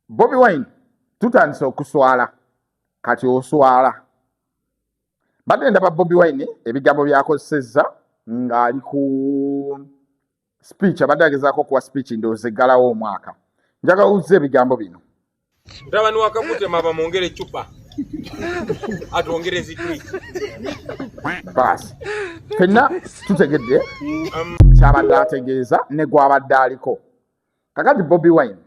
bobi wine tutandise okuswala kati oswala badde ndaba bobi wine ebigambo byakozesezza ng'ali ku speech abadde agezaako okuwa speech ndoozeggalawo omwaka njagala owuzza ebigambo bino Mutabani wa Kakutema bamwongere eccupa atwongere zigwi baasi fenna tutegedde um, kyabadde ategeeza ne gwabadde aliko kakati bobi wine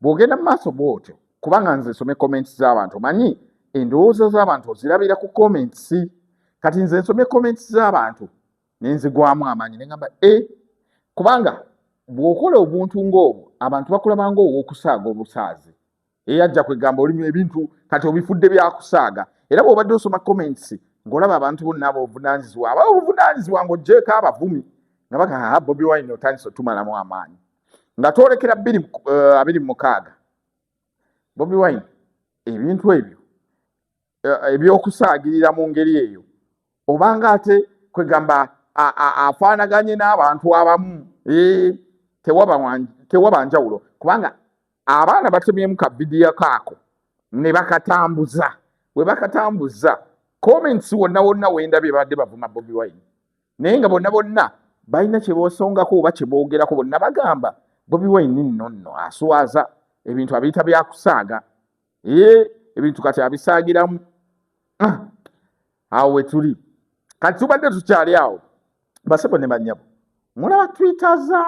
bw'ogenda mu maaso bw'otyo kubanga nze nsome comments z'abantu manyi endowooza z'abantu ozirabira ku comments kati nze nsome comments z'abantu nenzigwamu amaanyi nengamba e eh, kubanga bwokola obuntu ngaobwo abantu bakulabanga owokusaaga obusaazi eyajja kwegamba olimu ebintu kati obifudde byakusaaga era bwobadde osoma comments ngaolaba abantu bonna abo obuvunanyizibwa aba obuvunanyizibwa ngaojeeko abavumi nga bagaa ah, bobi wine otandisa otumalamu amaanyi nga twolekera biri eh, abiri mukaaga bobi wine ebintu ebyo eh, ebyokusaagirira mu ngeri eyo obanga ate kwegamba afaanaganye n'abantu abamu eh, tewaba njawulo kubanga abaana batemyemu ka vidiyo kaako ne bakatambuza we bakatambuza comments wonna wonna wenda bye babadde bavuma bobi wine naye nga bonna bonna balina kye boosongako oba kye boogerako bonna bagamba bobi wine nno nno aswaza ebintu abiyita byakusaaga ee ebintu kati abisangiramu ah, awo wetuli kati tubadde tukyali awo basebo ne banyabo mulaba twitaza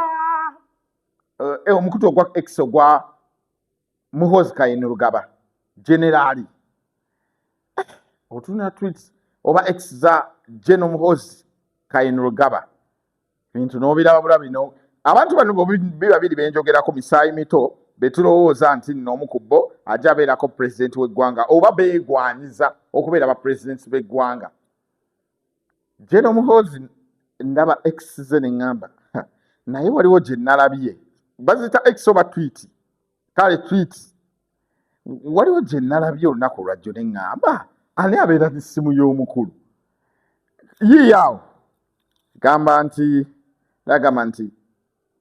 eh, eh, omukutu ogwa ex ogwa muhozi kayini lugaba generaali eh, otuna twit oba ex za geno muhozi kayini lugaba bintu nobiraba bulabi no abantu bano biba biri benjogerako misaayi mito betulowooza nti nno omu ku bo ajja abeerako pulezidenti w'eggwanga oba beegwanyiza okubeera ba pulezidenti b'eggwanga jeno muhoozi ndaba ex ze ne ŋŋamba naye waliwo gye nalabye bazita ex oba twiti kale twiti waliwo gye nalabye olunaku olwajjo ne ŋŋamba ani abeera n'essimu y'omukulu yiiyaawo gamba nti nagamba nti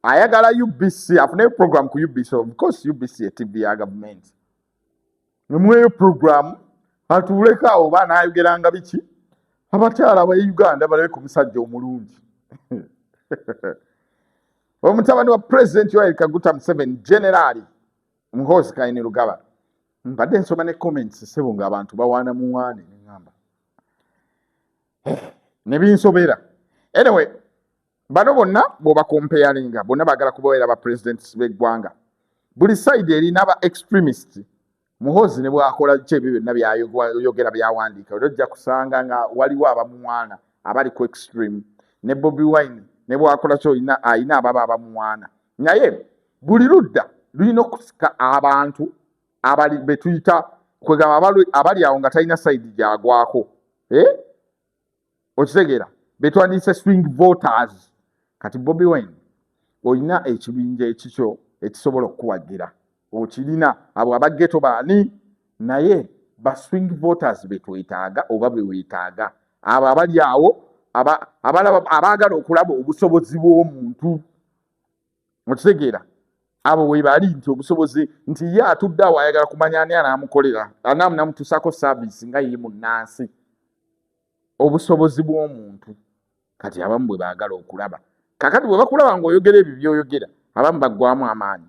ayagala ubc afuneyo program ku ubc ofcourse ubc etv ya gavumenti emweyo program atuuleko awo oba anaayogeranga biki abakyala ba uganda balabe ku musajja omulungi omutabani wa pulezidenti yoeri kaguta museveni generaali muhoozi kaine lugaba mbadde nsoma ne comments sebo nga abantu bawaana muwaane neŋamba eh, nebinsobera anyway bano bonna bwobakompeyalinga bonna bagala kubaera ba presidents beggwanga buli side erina ba extremist muhoozi ne bwakola ki ebyo byonna byayogera byawandiika era ojja kusanga nga waliwo abamuwaana abali ku extreme ne bobi wine ne bwakola ki olina alina ababa abamuwaana naye buli ludda lulina okusika abantu abali betuyita kwegamba abali awo nga talina saidi gyagwako eh? okitegeera betwandiyise swing voters kati bobi wine olina ekibinja ekikyo ekisobola okukuwagira okirina abo abageto baani naye ba swing voters betwetaaga oba bewetaaga abo abali awo abaagala okulaba obusobozi bw'omuntu mukitegeera abo webali nti obusobozi nti ye atudde awo ayagala kumanya ani anaamukolera anaamunamutuusako saaviisi nga ye munnansi obusobozi bw'omuntu kati abamu bwe baagala okulaba kakati bwe bakulaba ng'oyogera ebyo byoyogera abamu baggwamu amaanyi